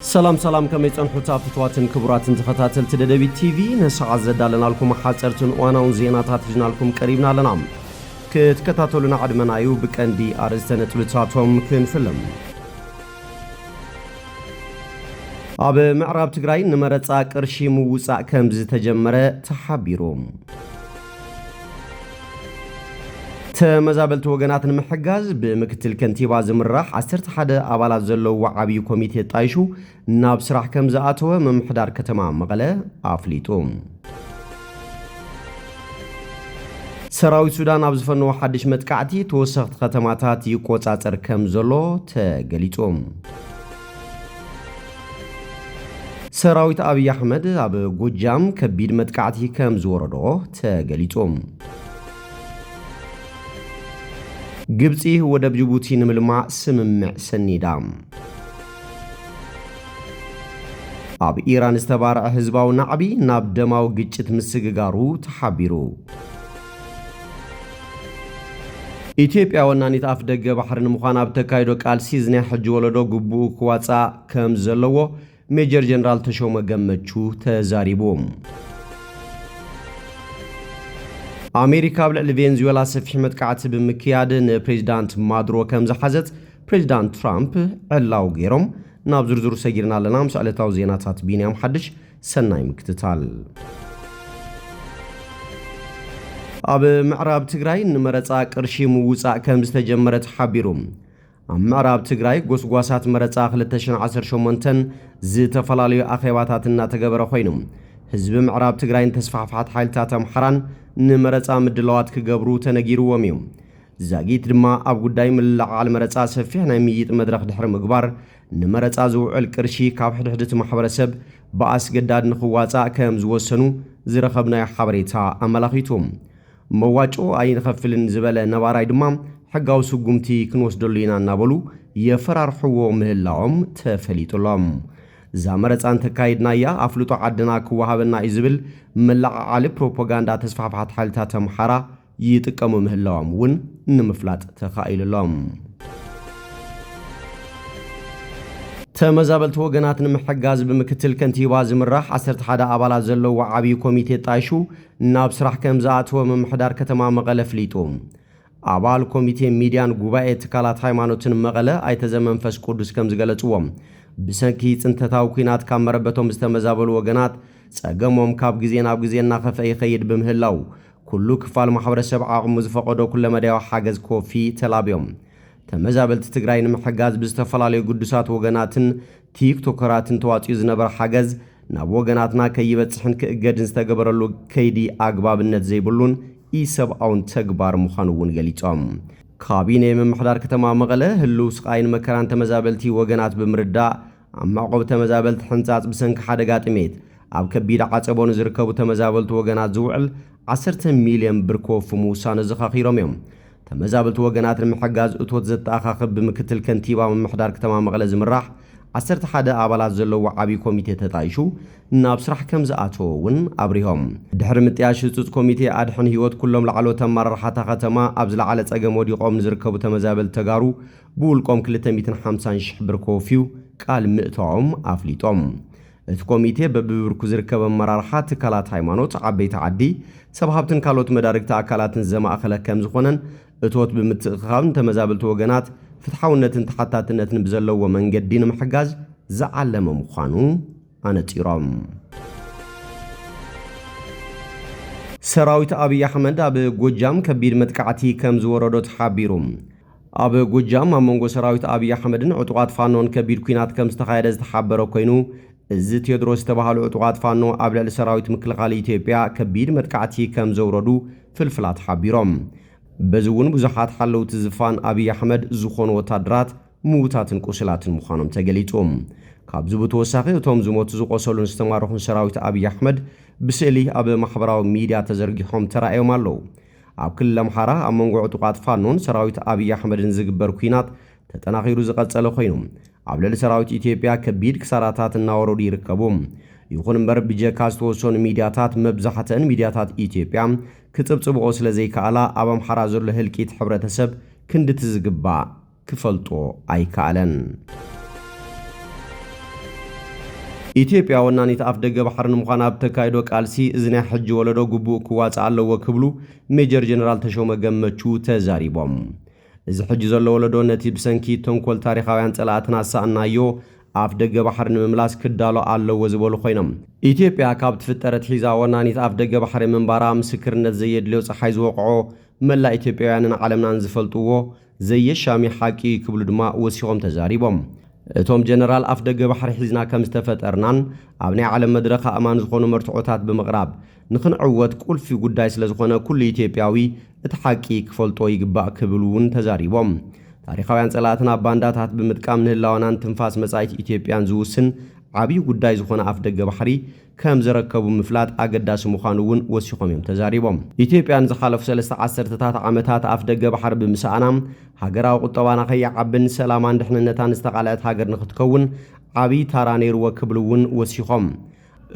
ሰላም ሰላም ከመይ ጸንሑታ ፍትዋትን ክቡራትን ተኸታተልቲ ደደቢት ቲቪ ንሰዓት ዘዳለናልኩም ሓጸርትን እዋናውን ዜናታት ሒዝናልኩም ቀሪብና ኣለና ክትከታተሉና ዕድመና እዩ ብቀንዲ ኣርእስተ ነጥብታቶም ክንፍልም ኣብ ምዕራብ ትግራይ ንመረጻ ቅርሺ ምውጻእ ከም ዝተጀመረ ተሓቢሩ ተመዛበልቲ ወገናት ንምሕጋዝ ብምክትል ከንቲባ ዝምራሕ ዓሰርተ ሓደ ኣባላት ዘለውዎ ዓብዪ ኮሚቴ ጣይሹ ናብ ስራሕ ከም ዝኣተወ ምምሕዳር ከተማ መቐለ ኣፍሊጡ። ሰራዊት ሱዳን ኣብ ዝፈነዎ ሓድሽ መጥቃዕቲ ተወሰኽቲ ከተማታት ይቆጻጸር ከም ዘሎ ተገሊጹ። ሰራዊት ኣብይ ኣሕመድ ኣብ ጎጃም ከቢድ መጥቃዕቲ ከም ዝወረዶ ተገሊጹ። ግብጺ ወደብ ጅቡቲ ንምልማዕ ስምምዕ ሰኒዳ። ኣብ ኢራን ዝተባርዐ ህዝባዊ ናዕቢ ናብ ደማዊ ግጭት ምስግጋሩ ተሓቢሩ። ኢትዮጵያ ወናኒት ኣፍ ደገ ባሕሪ ንምዃን ኣብ እተካይዶ ቃልሲ እዚ ናይ ሕጂ ወለዶ ግቡኡ ክዋፃእ ከም ዘለዎ ሜጀር ጀነራል ተሾመ ገመቹ ተዛሪቡ። ኣሜሪካ ኣብ ልዕሊ ቬንዙዌላ ሰፊሕ መጥቃዕቲ ብምክያድ ንፕሬዚዳንት ማዱሮ ከም ዝሓዘት ፕሬዚዳንት ትራምፕ ዕላው ገይሮም። ናብ ዝርዝሩ ሰጊርና ኣለና ምስ ዕለታዊ ዜናታት ቢንያም ሓድሽ ሰናይ ምክትታል። ኣብ ምዕራብ ትግራይ ንመረፃ ቅርሺ ምውፃእ ከም ዝተጀመረ ተሓቢሩ። ኣብ ምዕራብ ትግራይ ጎስጓሳት መረፃ 2018ን ዝተፈላለዩ ኣኼባታት እናተገበረ ኮይኑ ህዝቢ ምዕራብ ትግራይን ተስፋሕፋሕቲ ሓይልታት ኣምሓራን ንመረፃ ምድላዋት ክገብሩ ተነጊርዎም እዩ። ዛጊት ድማ ኣብ ጉዳይ ምልዕዓል መረፃ ሰፊሕ ናይ ምይይጥ መድረኽ ድሕሪ ምግባር ንመረፃ ዝውዕል ቅርሺ ካብ ሕድሕድ እቲ ማሕበረሰብ ብኣስገዳድ ንኽዋፃእ ከም ዝወሰኑ ዝረኸብናዮ ሓበሬታ ኣመላኺቱ። መዋጮ ኣይንኸፍልን ዝበለ ነባራይ ድማ ሕጋዊ ስጉምቲ ክንወስደሉ ኢና እናበሉ የፈራርሕዎ ምህላዎም ተፈሊጡ ኣሎ። እዛ መረፃ እንተካይድናያ ኣፍልጦ ዓድና ክወሃበና እዩ ዝብል መለዓዓሊ ፕሮፓጋንዳ ተስፋሕፋሕቲ ሓይልታት ኣምሓራ ይጥቀሙ ምህላዎም እውን ንምፍላጥ ተኻኢሉ ኣሎ። ተመዛበልቲ ወገናት ንምሕጋዝ ብምክትል ከንቲባ ዝምራሕ 11 ኣባላት ዘለዎ ዓብዪ ኮሚቴ ጣይሹ ናብ ስራሕ ከም ዝኣተወ ምምሕዳር ከተማ መቐለ ፍሊጡ። ኣባል ኮሚቴ ሚድያን ጉባኤ ትካላት ሃይማኖትን መቐለ ኣይተ ዘመንፈስ ቅዱስ ከም ዝገለጽዎ ብሰንኪ ጽንተታዊ ኩናት ካብ መረበቶም ዝተመዛበሉ ወገናት ጸገሞም ካብ ግዜ ናብ ግዜ እናኸፍአ ይኸይድ ብምህላው ኩሉ ክፋል ማሕበረሰብ ዓቕሙ ዝፈቐዶ ኩለመዳያዊ ሓገዝ ክወፊ ተላብዮም። ተመዛበልቲ ትግራይ ንምሕጋዝ ብዝተፈላለዩ ግዱሳት ወገናትን ቲክ ቶከራትን ተዋፂኡ ዝነበረ ሓገዝ ናብ ወገናትና ከይበፅሕን ክእገድን ዝተገበረሉ ከይዲ ኣግባብነት ዘይብሉን ኢሰብኣውን ተግባር ምዃኑ እውን ገሊፆም። ካቢኔ ምምሕዳር ከተማ መቐለ ህልው ስቓይን መከራን ተመዛበልቲ ወገናት ብምርዳእ ኣብ መዕቆቢ ተመዛበልቲ ሕንጻጽ ብሰንኪ ሓደጋ ጥሜት ኣብ ከቢድ ዓጸቦ ንዝርከቡ ተመዛበልቲ ወገናት ዝውዕል ዓሰርተ ሚልዮን ብር ክወፉ ምውሳኑ ኣዘኻኺሮም እዮም። ተመዛበልቲ ወገናት ንምሕጋዝ እቶት ዘተኣኻኽብ ብምክትል ከንቲባ ምምሕዳር ክተማ መቐለ ዝምራሕ ዓሰርተ ሓደ ኣባላት ዘለዎ ዓብዪ ኮሚቴ ተጣይሹ ናብ ስራሕ ከምዝኣተወ እውን ኣብሪሆም። ድሕሪ ምጥያሽ ህጹጽ ኮሚቴ ኣድሕን ህይወት ኩሎም ላዕለዎት ኣመራርሓ እታ ከተማ ኣብ ዝለዓለ ጸገም ወዲቖም ንዝርከቡ ተመዛበልቲ ተጋሩ ብውልቆም ክልተ ሚእትን ሓምሳን ሽሕ ብር ከወፍዩ ቃል ምእታዎም ኣፍሊጦም። እቲ ኮሚቴ በቢብርኩ ዝርከብ ኣመራርሓ፣ ትካላት ሃይማኖት፣ ዓበይቲ ዓዲ፣ ሰብ ሃብትን ካልኦት መዳርግቲ ኣካላትን ዘማእኸለ ከምዝኾነን እቶት ብምትእኽኻብ ንተመዛበልቲ ወገናት ፍትሓውነትን ተሓታትነትን ብዘለዎ መንገዲ ንምሕጋዝ ዝዓለመ ምዃኑ ኣነፂሮም። ሰራዊት ኣብይ ኣሕመድ ኣብ ጎጃም ከቢድ መጥቃዕቲ ከምዝወረዶ ተሓቢሩ። ኣብ ጎጃም ኣብ መንጎ ሰራዊት ኣብይ ኣሕመድን ዕጡቓት ፋኖን ከቢድ ኲናት ከምዝተኻየደ ዝተሓበረ ኮይኑ፣ እዚ ቴድሮስ ዝተበሃሉ ዕጡቓት ፋኖ ኣብ ልዕሊ ሰራዊት ምክልኻል ኢትዮጵያ ከቢድ መጥቃዕቲ ከምዘውረዱ ፍልፍላት ሓቢሮም። በዚ እውን ብዙሓት ሓለውቲ ዝፋን ኣብይ ኣሕመድ ዝኾኑ ወታደራት ምውታትን ቁስላትን ምዃኖም ተገሊፁ። ካብዚ ብተወሳኺ እቶም ዝሞቱ፣ ዝቖሰሉን ዝተማረኹን ሰራዊት ኣብይ ኣሕመድ ብስእሊ ኣብ ማሕበራዊ ሚድያ ተዘርጊሖም ተራእዮም ኣለው። ኣብ ክልል ኣምሓራ ኣብ መንጎ ዕጡቓት ፋኖን ሰራዊት ኣብይ ኣሕመድን ዝግበር ኲናት ተጠናኺሩ ዝቐፀለ ኮይኑ ኣብ ልዕሊ ሰራዊት ኢትዮጵያ ከቢድ ክሳራታት እናወረዱ ይርከቡ። ይኹን እምበር ብጀካ ዝተወሰኑ ሚድያታት መብዛሕተን ሚድያታት ኢትዮጵያ ክፅብፅብኦ ስለዘይከኣላ ኣብ ኣምሓራ ዘሎ ህልቂት ሕብረተሰብ ክንድቲ ዝግባእ ክፈልጦ ኣይከኣለን። ኢትዮጵያ ወናኒት ኣፍደገ ባሕሪ ንምዃን ኣብ እተካይዶ ቃልሲ እዚ ናይ ሕጂ ወለዶ ግቡኡ ክዋፃእ ኣለዎ ክብሉ ሜጀር ጀነራል ተሾመ ገመቹ ተዛሪቦም። እዚ ሕጂ ዘሎ ወለዶ ነቲ ብሰንኪ ተንኮል ታሪኻውያን ፀላእትና ዝሰኣንናዮ ኣፍደገ ባሕሪ ንምምላስ ክዳሎ ኣለዎ ዝበሉ ኮይኖም፣ ኢትዮጵያ ካብ ትፍጠር ኣትሒዛ ወናኒት ኣፍደገ ባሕሪ ምንባራ ምስክርነት ዘየድልዮ ፀሓይ ዝወቕዖ መላእ ኢትዮጵያውያንን ዓለምናን ዝፈልጥዎ ዘየሻሚ ሓቂ እዩ ክብሉ ድማ ወሲኾም ተዛሪቦም። እቶም ጀነራል ኣፍደገ ባሕሪ ሒዝና ከምዝተፈጠርናን ኣብ ናይ ዓለም መድረኽ ኣእማን ዝኾኑ መርትዖታት ብምቕራብ ንኽንዕወት ቁልፊ ጉዳይ ስለዝኾነ ኩሉ ኢትዮጵያዊ እቲ ሓቂ ክፈልጦ ይግባእ ክብሉ እውን ተዛሪቦም። ታሪኻውያን ፀላእትና ባንዳታት ብምጥቃም ንህላወናን ትንፋስ መፃኢት ኢትዮጵያን ዝውስን ዓብዪ ጉዳይ ዝኾነ ኣፍደገ ባሕሪ ከም ዝረከቡ ምፍላጥ ኣገዳሲ ምዃኑ እውን ወሲኾም እዮም ተዛሪቦም። ኢትዮጵያ ንዝሓለፉ ሰለስተ ዓሰርተታት ዓመታት ኣፍደገ ባሕሪ ብምስኣና ሃገራዊ ቁጠባና ከይዓብን ሰላማን ድሕንነታን ዝተቓልዐት ሃገር ንኽትከውን ዓብዪ ታራ ነይርዎ ክብሉ እውን ወሲኾም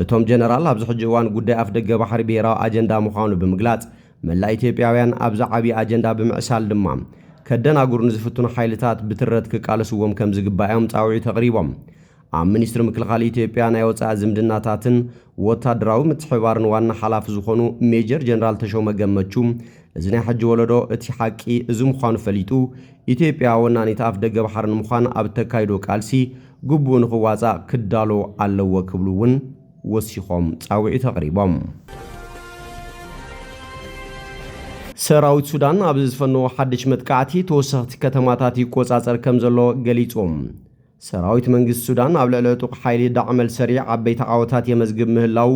እቶም ጀነራል ኣብዚ ሕጂ እዋን ጉዳይ ኣፍደገ ባሕሪ ብሄራዊ ኣጀንዳ ምዃኑ ብምግላፅ መላእ ኢትዮጵያውያን ኣብዚ ዓብዪ ኣጀንዳ ብምዕሳል ድማ ከደናግሩ ንዝፍትኑ ሓይልታት ብትረት ክቃለስዎም ከምዝግባእ እዮም ፃውዒት ኣቕሪቦም። ኣብ ሚኒስትሪ ምክልኻል ኢትዮጵያ ናይ ወፃኢ ዝምድናታትን ወታደራዊ ምትሕብባርን ዋና ሓላፊ ዝኾኑ ሜጀር ጀነራል ተሾመ ገመቹ እዚ ናይ ሕጂ ወለዶ እቲ ሓቂ እዚ ምዃኑ ፈሊጡ ኢትዮጵያ ወናኒት ኣፍ ደገ ባሕሪ ንምዃን ኣብ እተካይዶ ቃልሲ ግቡኡ ንኽዋፃእ ክዳሎ ኣለዎ ክብሉ እውን ወሲኾም ፃውዒት ኣቕሪቦም። ሰራዊት ሱዳን ኣብ ዝፈነዎ ሓድሽ መጥቃዕቲ ተወሰኽቲ ከተማታት ይቆፃፀር ከምዘሎ ገሊፁ። ሰራዊት መንግስቲ ሱዳን ኣብ ልዕሊ ዕጡቕ ሓይሊ ዳዕመል ሰሪዕ ዓበይቲ ዓወታት የመዝግብ ምህላዉ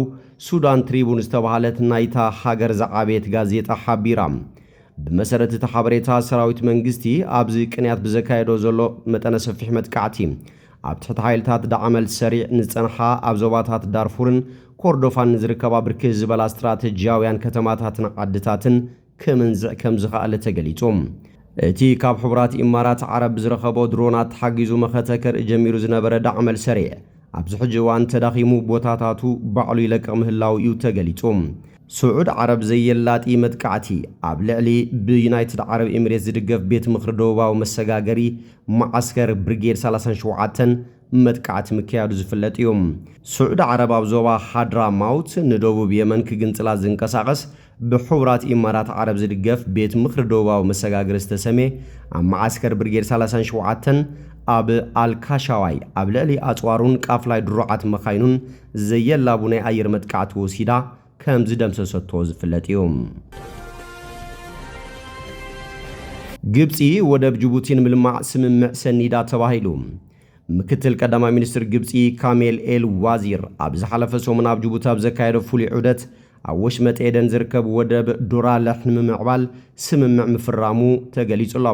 ሱዳን ትሪቡን ዝተባህለት ናይታ ሃገር ዝዓበየት ጋዜጣ ሓቢራ። ብመሰረት እቲ ሓበሬታ ሰራዊት መንግስቲ ኣብዚ ቅንያት ብዘካየዶ ዘሎ መጠነ ሰፊሕ መጥቃዕቲ ኣብ ትሕቲ ሓይልታት ዳዕመል ሰሪዕ ንዝጸንሓ ኣብ ዞባታት ዳርፉርን ኮርዶፋን ንዝርከባ ብርክት ዝበላ ስትራተጂያውያን ከተማታትን ዓድታትን ክምንዝዕ ከምዝኸኣለ ተገሊጹ። እቲ ካብ ሕቡራት ኢማራት ዓረብ ብዝረኸቦ ድሮናት ተሓጊዙ መኸተ ከርኢ ጀሚሩ ዝነበረ ዳዕመል ሰሪዕ፣ ኣብዚ ሕጂ እዋን ተዳኺሙ ቦታታቱ ባዕሉ ይለቅቕ ምህላዉ እዩ ተገሊጹ። ስዑድ ዓረብ ዘየላጢ መጥቃዕቲ ኣብ ልዕሊ ብዩናይትድ ዓረብ ኢሚሬት ዝድገፍ ቤት ምኽሪ ደቡባዊ መሰጋገሪ መዓስከር ብሪጌድ ሰላሳን ሸውዓተን መጥቃዕቲ ምክያዱ ዝፍለጥ እዩ። ስዑድ ዓረብ ኣብ ዞባ ሃድራማውት ንደቡብ የመን ክግንጽላ ዝንቀሳቐስ ብሕቡራት ኢማራት ዓረብ ዝድገፍ ቤት ምኽሪ ደቡባዊ መሰጋግሪ ዝተሰምየ ኣብ መዓስከር ብርጌድ ሳላሳን ሸውዓተን ኣብ ኣልካሻዋይ ኣብ ልዕሊ ኣጽዋሩን ቃፍላይ ድሩዓት መኻይኑን ዘየላቡ ናይ ኣየር መጥቃዕቲ ወሲዳ ከም ዝደምሰሰቶ ዝፍለጥ እዩ። ግብጺ ወደብ ጅቡቲ ንምልማዕ ስምምዕ ሰኒዳ ተባሂሉ። ምክትል ቀዳማይ ሚኒስትር ግብጺ ካሜል ኤል ዋዚር ኣብ ዝሓለፈ ሰሙን ኣብ ጅቡቲ ኣብ ዘካየዶ ፍሉይ ዑደት፣ ኣብ ወሽመጥ ኤደን ዝርከብ ወደብ ዶራለሕ ንምምዕባል ስምምዕ ምፍራሙ ተገሊጹ'ሎ።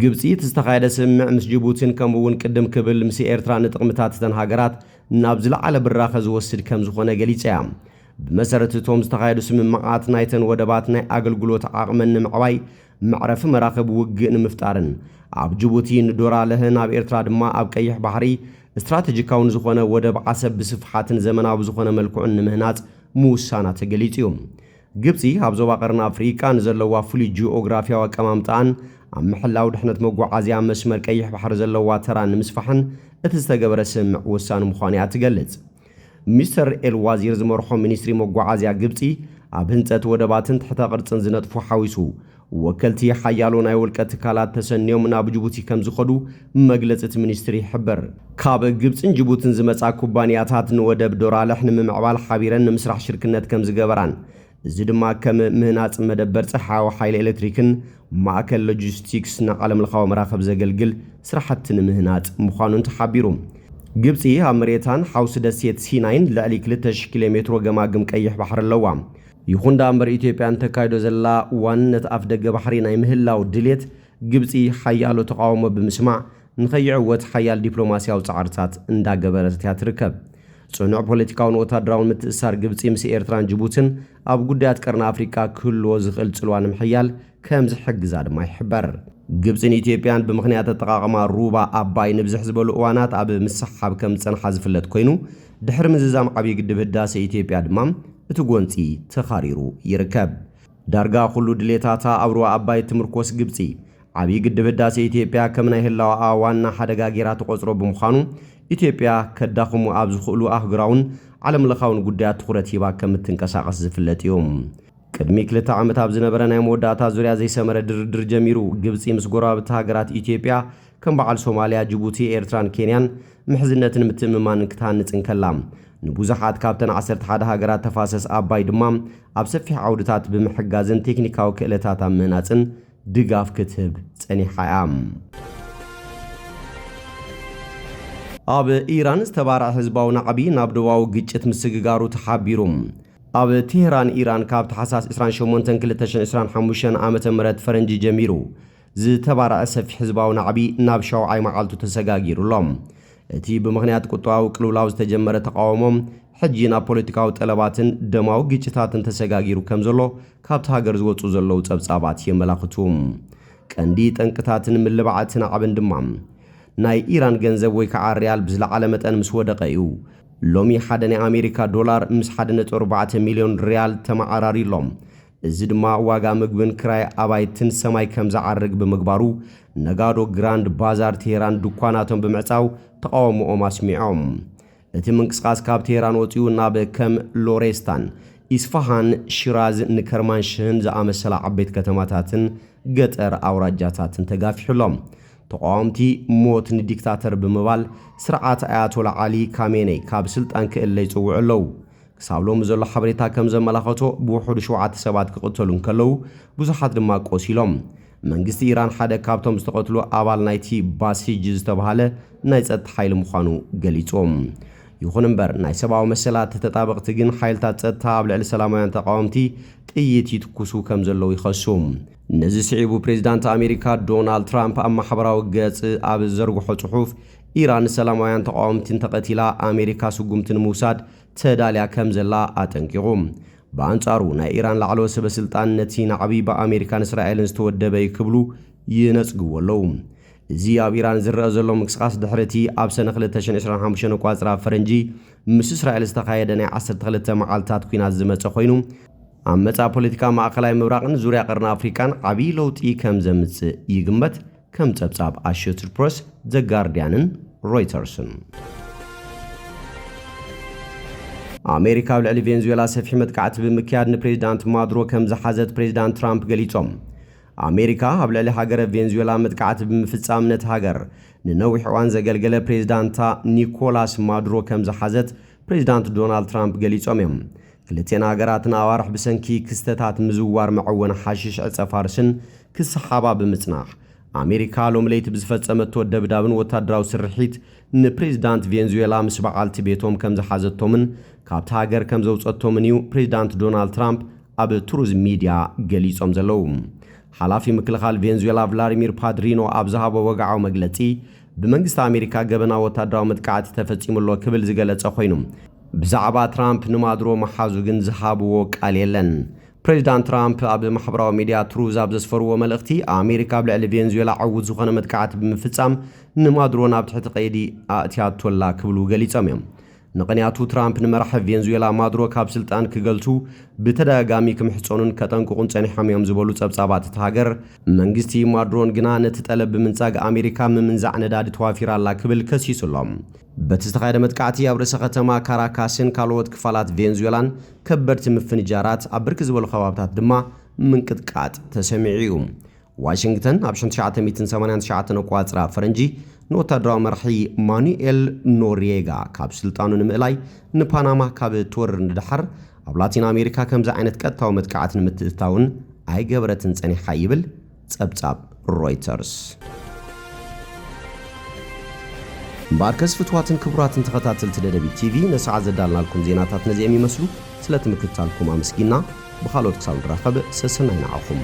ግብጺ እቲ ዝተኻየደ ስምምዕ ምስ ጅቡቲን ከምኡ'ውን ቅድም ክብል ምስ ኤርትራ ንጥቕምታት እተን ሃገራት ናብ ዝለዓለ ብራኸ ዝወስድ ከምዝኾነ ገሊጻ'ያ። ብመሰረት እቶም ዝተኻየዱ ስምምዓት ናይተን ወደባት ናይ ኣገልግሎት ዓቕመን ንምዕባይ መዕረፊ መራኽብ ውግእ ንምፍጣርን ኣብ ጅቡቲ ንዶራለህ ናብ ኤርትራ ድማ ኣብ ቀይሕ ባሕሪ ስትራተጂካዊ ንዝኾነ ወደብ ዓሰብ ብስፍሓትን ዘመናዊ ብዝኾነ መልክዑን ንምህናጽ ምውሳና ተገሊጹ እዩ። ግብጺ ኣብ ዞባ ቀርኒ ኣፍሪቃ ንዘለዋ ፍሉይ ጂኦግራፊያዊ ኣቀማምጣኣን ኣብ ምሕላው ድሕነት መጓዓዝያ መስመር ቀይሕ ባሕሪ ዘለዋ ተራ ንምስፋሕን እቲ ዝተገበረ ስምምዕ ወሳኒ ምዃኑ እያ እትገልጽ። ሚስተር ኤል ዋዚር ዝመርሖ ሚኒስትሪ መጓዓዝያ ግብጺ፣ ኣብ ህንጸት ወደባትን ትሕተ ቅርጽን ዝነጥፉ ሓዊሱ፣ ወከልቲ ሓያሎ ናይ ውልቀ ትካላት ተሰንዮም ናብ ጅቡቲ ከምዝኸዱ መግለጺ እቲ ሚኒስትሪ ይሕብር። ካብ ግብጽን ጅቡትን ዝመጻ ኩባንያታት ንወደብ ዶራልሕ ንምምዕባል ሓቢረን ንምስራሕ ሽርክነት ከምዝገበራን እዚ ድማ ከም ምህናጽ መደበር ጸሓያዊ ሓይሊ ኤሌክትሪክን ማእከል ሎጂስቲክስ ንዓለምለኻዊ መራኽብ ዘገልግል ስራሕቲ ንምህናጽ ምዃኑን ተሓቢሩ። ግብጺ ኣብ መሬታን ሓውሲ ደሴት ሲናይን ልዕሊ ክልተ ሽሕ ኪሎ ሜትሮ ገማግም ቀይሕ ባሕሪ ኣለዋ። ይኹን ደኣምበር ኢትዮጵያ ንተካይዶ ዘላ ዋንነት ኣፍደገ ባሕሪ ናይ ምህላው ድሌት ግብጺ ሓያሎ ተቓውሞ ብምስማዕ ንከይዕወት ሓያል ዲፕሎማስያዊ ጻዕርታት እንዳገበረት እያ ትርከብ። ጽኑዕ ፖለቲካውን ወታደራውን ምትእስሳር ግብጺ ምስ ኤርትራን ጅቡትን ኣብ ጉዳያት ቀርኒ ኣፍሪቃ ክህልዎ ዝኽእል ጽልዋ ንምሕያል ከም ዝሕግዛ ድማ ይሕበር። ግብጽን ኢትዮጵያን ብምኽንያት ኣጠቓቕማ ሩባ ኣባይ ንብዝሕ ዝበሉ እዋናት ኣብ ምስሕሓብ ከም ዝጸንሓ ዝፍለጥ ኮይኑ፣ ድሕሪ ምዝዛም ዓብዪ ግድብ ህዳሰ ኢትዮጵያ ድማ እቲ ጎንጺ ተኻሪሩ ይርከብ። ዳርጋ ኩሉ ድሌታታ ኣብ ሩባ ኣባይ እትምርኮስ ግብጺ፣ ዓብዪ ግድብ ህዳሴ ኢትዮጵያ ከም ናይ ህላወኣ ዋና ሓደጋ ገይራ ትቖፅሮ ብምዃኑ ኢትዮጵያ ከዳኽሙ ኣብ ዝኽእሉ ኣህጉራውን ዓለም ለኻውን ጉዳያት ትኹረት ሂባ ከም እትንቀሳቐስ ዝፍለጥ እዩ። ቅድሚ ክልተ ዓመት ኣብ ዝነበረ ናይ መወዳእታ ዙርያ ዘይሰመረ ድርድር ጀሚሩ ግብፂ ምስ ጎረባብቲ ሃገራት ኢትዮጵያ ከም በዓል ሶማሊያ፣ ጅቡቲ፣ ኤርትራን ኬንያን ምሕዝነትን ምትእምማንን ክትሃንፅ እንከላ ንቡዙሓት ካብተን ዓሰርተ ሓደ ሃገራት ተፋሰስ ኣባይ ድማ ኣብ ሰፊሕ ዓውድታት ብምሕጋዝን ቴክኒካዊ ክእለታት ኣብ ምህናፅን ድጋፍ ክትህብ ጸኒሓ እያ። ኣብ ኢራን ዝተባረዐ ህዝባዊ ናዕቢ ናብ ዶባዊ ግጭት ምስግጋሩ ተሓቢሩ። ኣብ ቴህራን ኢራን ካብ ታሕሳስ 28 2025 ዓ.ም ፈረንጂ ጀሚሩ ዝተባረዐ ሰፊሕ ህዝባዊ ናዕቢ ናብ ሻውዓይ መዓልቱ ተሰጋጊሩ ኣሎ። እቲ ብምኽንያት ቁጠባዊ ቅልውላው ዝተጀመረ ተቓውሞ ሕጂ ናብ ፖለቲካዊ ጠለባትን ደማዊ ግጭታትን ተሰጋጊሩ ከም ዘሎ ካብታ ሃገር ዝወጹ ዘለዉ ጸብጻባት የመላኽቱ። ቀንዲ ጠንቅታትን ምልባዕ እቲ ናዕብን ድማ፣ ናይ ኢራን ገንዘብ ወይ ከኣ ርያል ብዝለዓለ መጠን ምስ ወደቐ እዩ። ሎሚ ሓደ ናይ ኣሜሪካ ዶላር ምስ ሓደ ነጥቢ ኣርባዕተ ሚልዮን ርያል ተመዓራርዩ ኣሎ። እዚ ድማ ዋጋ ምግብን ክራይ ኣባይትን ሰማይ ከም ዝዓርግ ብምግባሩ፣ ነጋዶ ግራንድ ባዛር ቴህራን ድኳናቶም ብምዕጻው ተቓውሞኦም ኣስሚዖም። እቲ ምንቅስቓስ ካብ ቴህራን ወጺኡ ናብ ከም ሎሬስታን፣ ኢስፋሃን፣ ሺራዝ ን ከርማንሽህን ዝኣመሰላ ዓበይቲ ከተማታትን ገጠር ኣውራጃታትን ተጋፊሑ ኣሎ። ተቓወምቲ ሞት ንዲክታተር ብምባል ስርዓት ኣያቶላ ዓሊ ካሜነይ ካብ ስልጣን ክእለ ይጽውዑ ኣለዉ። ክሳብ ሎሚ ዘሎ ሓበሬታ ከም ዘመላኸቶ ብውሑዱ ሸውዓተ ሰባት ክቕተሉ እንከለዉ ብዙሓት ድማ ቆሲሎም። መንግስቲ ኢራን ሓደ ካብቶም ዝተቐትሉ ኣባል ናይቲ ባሲጅ ዝተባህለ ናይ ጸጥታ ሓይሊ ምዃኑ ገሊጹ። ይኹን እምበር ናይ ሰብኣዊ መሰላት ተጣበቕቲ ግን ሓይልታት ጸጥታ ኣብ ልዕሊ ሰላማውያን ተቓወምቲ ጥይት ይትኩሱ ከም ዘለዉ ይኸሱ። ነዚ ስዒቡ ፕሬዚዳንት ኣሜሪካ ዶናልድ ትራምፕ ኣብ ማሕበራዊ ገጽ ኣብ ዝዘርግሖ ጽሑፍ ኢራን ንሰላማውያን ተቓወምቲ እንተቐቲላ ኣሜሪካ ስጉምቲ ንምውሳድ ተዳልያ ከም ዘላ ኣጠንቂቑ። ብኣንጻሩ ናይ ኢራን ላዕለዎት ሰበስልጣን ነቲ ናዕቢ ብኣሜሪካን እስራኤልን ዝተወደበ'ዩ ክብሉ ይነጽግዎ ኣለዉ። እዚ ኣብ ኢራን ዝረኣ ዘሎ ምንቅስቓስ ድሕሪ እቲ ኣብ ሰነ ክልተ ሽሕን ዕስራን ሓሙሽተን ኣቋጽራ ፈረንጂ ምስ እስራኤል ዝተኻየደ ናይ ዓሰርተ ክልተ መዓልታት ኲናት ዝመጸ ኮይኑ፣ ኣብ መጻኢ ፖለቲካ ማእከላይ ምብራቕን ዙርያ ቀርኒ ኣፍሪቃን ዓብዪ ለውጢ ከም ዘምጽእ ይግመት። ከም ጸብጻብ ኣሾትድ ፕረስ፣ ዘ ጋርድያንን ሮይተርስን፣ ኣሜሪካ ኣብ ልዕሊ ቬንዙዌላ ሰፊሕ መጥቃዕቲ ብምክያድ ንፕሬዚዳንት ማዱሮ ከም ዝሓዘት ፕሬዚዳንት ትራምፕ ገሊጾም። ኣሜሪካ ኣብ ልዕሊ ሃገረ ቬንዙዌላ መጥቃዕቲ ብምፍጻም ነቲ ሃገር ንነዊሕ እዋን ዘገልገለ ፕሬዚዳንታ ኒኮላስ ማዱሮ ከም ዝሓዘት ፕሬዚዳንት ዶናልድ ትራምፕ ገሊጾም እዮም። ክልቲኤን ሃገራት ንኣዋርሕ ብሰንኪ ክስተታት ምዝዋር መዐወኒ ሓሽሽ ዕጸ-ፋርስን ክሰሓባ ብምጽናሕ፣ ኣሜሪካ ሎሚ ለይቲ ብዝፈጸመቶ ደብዳብን ወታደራዊ ስርሒት ንፕሬዚዳንት ቬንዙዌላ ምስ በዓልቲ ቤቶም ከምዝሓዘቶምን ካብታ ሃገር ከምዘውጸቶምን እዩ ፕሬዚዳንት ዶናልድ ትራምፕ ኣብ ትሩዝ ሚድያ ገሊጾም ዘለዉ። ሓላፊ ምክልኻል ቬንዙዌላ ቭላድሚር ፓድሪኖ ኣብ ዝሃቦ ወግዓዊ መግለጺ፣ ብመንግስቲ ኣሜሪካ ገበናዊ ወታደራዊ መጥቃዕቲ ተፈጺሙ ኣሎ ክብል ዝገለጸ ኮይኑ፣ ብዛዕባ ትራምፕ ንማዱሮ ምሓዙ ግን ዝሃብዎ ቃል የለን። ፕሬዚዳንት ትራምፕ ኣብ ማሕበራዊ ሚዲያ ትሩዝ ኣብ ዘስፈርዎ መልእኽቲ፣ ኣሜሪካ ኣብ ልዕሊ ቬንዙዌላ ዕዉት ዝኾነ መጥቃዕቲ ብምፍጻም ንማዱሮ ናብ ትሕቲ ቀይዲ ኣእትያቶ ኣላ ክብሉ ገሊጾም እዮም። ምቕንያቱ ትራምፕ ንመራሒ ቬንዙዌላ ማዱሮ ካብ ስልጣን ክገልሱ ብተደጋጋሚ ክምሕጸኑን ከጠንቅቑን ጸኒሖም እዮም ዝበሉ ጸብጻባት እታ ሃገር፣ መንግስቲ ማዱሮን ግና ነቲ ጠለብ ብምንጻግ ኣሜሪካ ምምንዛዕ ነዳዲ ተዋፊራ ኣላ ክብል ከሲሱ ኣሎ። በቲ ዝተኻየደ መጥቃዕቲ ኣብ ርእሰ ከተማ ካራካስን ካልኦት ክፋላት ቬንዙዌላን ከበድቲ ምፍንጃራት፣ ኣብ ብርክት ዝበሉ ከባብታት ድማ ምንቅጥቃጥ ተሰሚዑ እዩ። ዋሽንግተን ኣብ ሽሕን ትሽዓተ ሚእትን ሰማንያን ትሽዓተን ኣቆጻጽራ ፈረንጂ ንወታደራዊ መራሒ ማኑኤል ኖርየጋ ካብ ስልጣኑ ንምእላይ ንፓናማ ካብ እትወርር ንደሓር ኣብ ላቲን ኣሜሪካ ከምዚ ዓይነት ቀጥታዊ መጥቃዕቲ ንምትእትታውን ኣይገበረትን ጸኒሓ ይብል ጸብጻብ ሮይተርስ። እምበኣርከስ ፍትዋትን ክቡራትን ተኸታተልቲ ደደቢት ቲቪ ነሰዓት ዘዳልናልኩም ዜናታት ነዚኦም ይመስሉ። ስለቲ ምክትታልኩም ኣመስጊና ብኻልኦት ክሳብ ንራኸብ ሰሰናይ ንዓኹም።